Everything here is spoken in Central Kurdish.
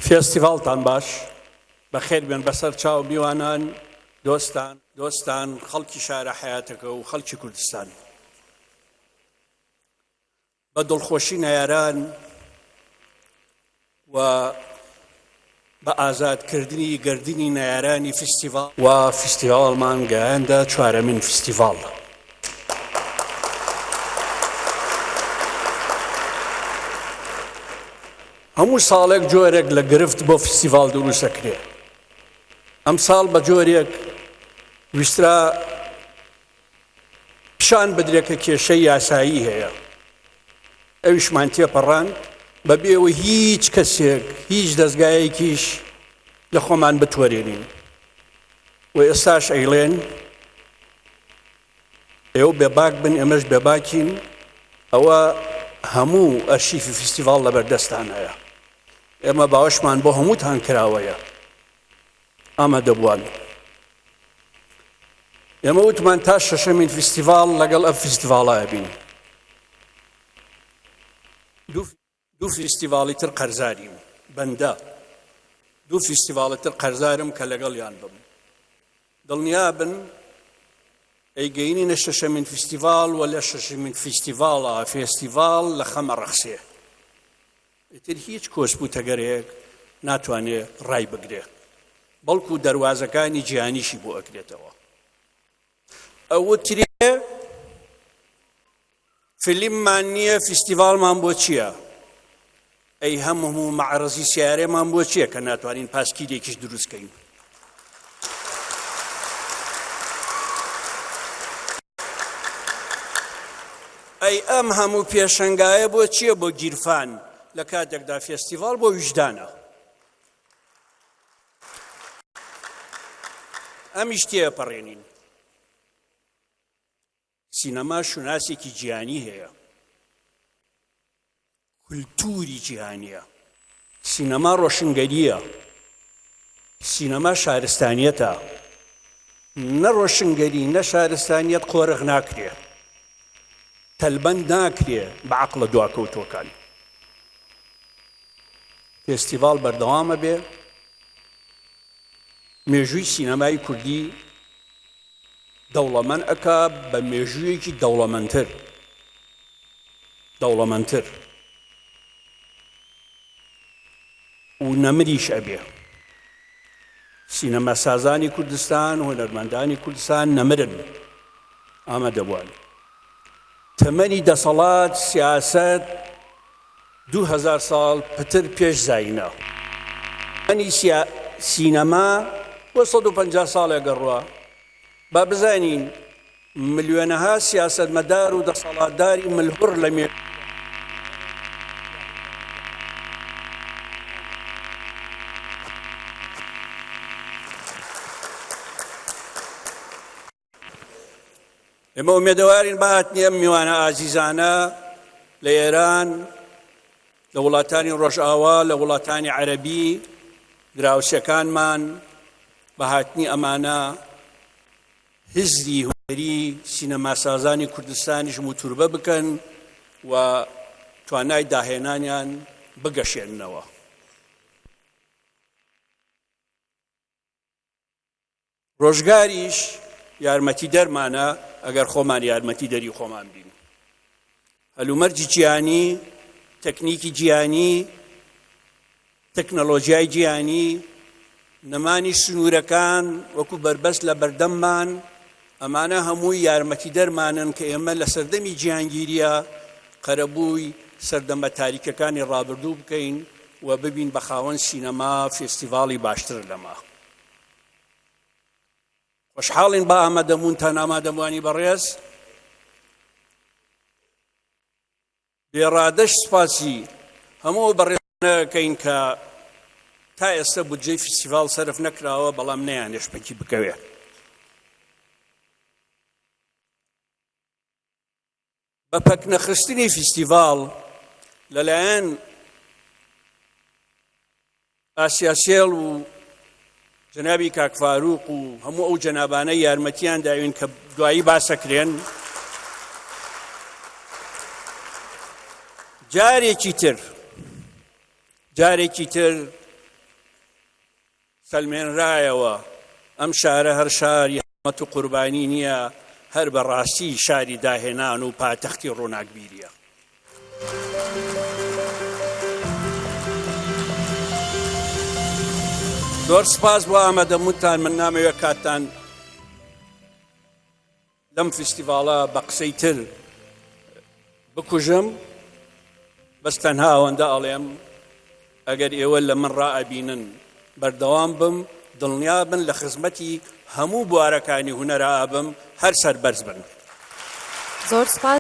فێستیڤاڵتان باش بەخێر بێن بەسەر چاو میوانان دۆستان دۆستان خەڵکی شارە حیاتەکە و خەڵکی کوردستان بە دڵخۆشی نەیاران و بە ئازادکردنی گردردنی نەیارانی فستیڤال و فستیڤالمان گەیاندە چوارەمین فستیڤال. هەموو ساڵێک جۆرێک لە گرفت بۆ فیستیڤاڵ دروست دەکرێ. ئەمساڵ بە جۆرێک ویسترا پیشان بدرێ کە کێشەی یاسایی هەیە. ئەویشمان تێپەڕاند بە بێوە هیچ کەسێک هیچ دەزگایەکیش لە خۆمان بتوەرێنین و ئێستاش ئەیڵێن ئێوە بێباک بن ئێمەش بێباکین ئەوە هەموو ئەرشیفی فیستیڤاڵ لەبەردەستان هەیە ئێمە باوەشمان بۆ هەمووتان کراوەیە ئامادەبووان ئێمە وتمان تا شەشەمین فیستیڤاڵ لەگەڵ ئەم فیستیڤاڵایە بین دوو فیستیڤاڵی تر قەرزاریم بەندە دوو فیستیڤاڵی تر قەرزارم کە لەگەڵیان بم دڵنیابن ئەیگەینینە شەشەمین فیستیڤاڵ و لە شەشمین فیستیڤاڵە فێستیڤاڵ لە خەمە ڕەخسێ ئیتر هیچ کۆسپوتەگەرێک ناتوانێ ڕای بگرێت بەڵکو دەواازەکانی جیانیشی بۆ ئەکرێتەوە ئەوترێ فیلممان نییە فیستیڤاڵمان بۆ چییە؟ ئەی هەم هەموو مەعرەزی سیارێمان بۆ چییە کە ناتوانین پاسکیلێکیش دروستکەین؟ ئەی ئەم هەموو پێشنگایە بۆ چییە بۆ گیرفان لە کاتێکدا فێستیڤال بۆ ویژدانە ئەمیش تێپەڕێنین سینەما شوناسێکی جیانی هەیە کولتوری جیهانیە سینەما ڕۆشنگەریە سینەما شارستانیەتە نە ڕۆشنگەری نە شارستانیت قۆرغ ناکرێ تەلبەند ناکرێ بە عقلە دواکەوتوەکان فێستیڤاڵ بەردەوام ئەبێ، مێژووی سینەمای کوردی دەوڵەمەند ئەکا بە مێژوویەکی دەوڵەمەندتر دەوڵەمەندتر و نەمریش ئەبێ. سینەماسازانی کوردستان، هونەرمەندانی کوردستان نەمرن ئامادەبووان. تەمەنی دەسەڵات، سیاسەت، دوو هەزار ساڵ پتر پێش زایینە انی سیا سینەما بۆ سەد و پەنجا ساڵێ گەڕوا با بزانین ملیۆنەها سیاسەتمەدار و دەسەڵاتداری ملهوڕ لە مێژوودا ئێمە ئومێدەوارین بە هاتنی ئەم میوانە ئازیزانە لە ئێران لە وڵاتانی ڕۆژئاوا لە وڵاتانی عەربی دراوسەکانمان بە هاتنی ئەمانە هزری هوەری سینەماسازانی کوردستانیش موتوربە بکەن و توانای داهێنانیان بگەشێننەوە ڕۆژگاریش یارمەتیدەرمانە ئەگەر خۆمان یارمەتی دەری خۆمان بین هەلومەرجی جیانی تەکنیکی جیانی تەکنەلۆژیای جیانی نەمانی سنوورەکان وەکو بەربەست لە بەردەممان ئەمانە هەمووی یارمەتیدەرمانن کە ئێمە لە سەردەمی جیهانگیرییە قەرەبووی سەردەمە تاریکەکانی ڕابردوو بکەین و ببین بە خاوەن سینەما فێستیڤاڵی باشتر لەمە. خۆشحاڵین بە ئامادەبوونتان ئامادەبووانی بەڕێز. بێڕادەش سوپاسی هەموو ئەو بەڕێزانە ئەکەین کە تا ئێستە بودجەی فیستیڤاڵ سەرف نەکراوە بەڵام نەیانێش پەکی بکەوێ. بە پەکنەخستنی فیستیڤاڵ لەلایەن ئاسیاشێڵ و جەنابی کاک فاروق و هەموو ئەو جەنابانە یارمەتیان داوین کە دوایی باسەکرێن جارێکی تر جارێکی تر سەلمێنرایەوە ئەم شارە هەر شاری حمەت و قوربانی نییە هەر بەڕاستی شاری داهێنان و پاتەختی ڕووناکبیریە زۆر سپاس بۆ ئامادەبوونتان من نامەوێت کاتتان لەم فیستیڤاڵە بە قسەی تر بکوژم بەس تەنها ئەوەندە ئەڵێم ئەگەر ئێوە لە من ڕائبینن بەردەوام بم دڵنیا بن لە خزمەتی هەموو بوارەکانی هوەرە ئابم هەر سەر بەرز بن زۆر سپاس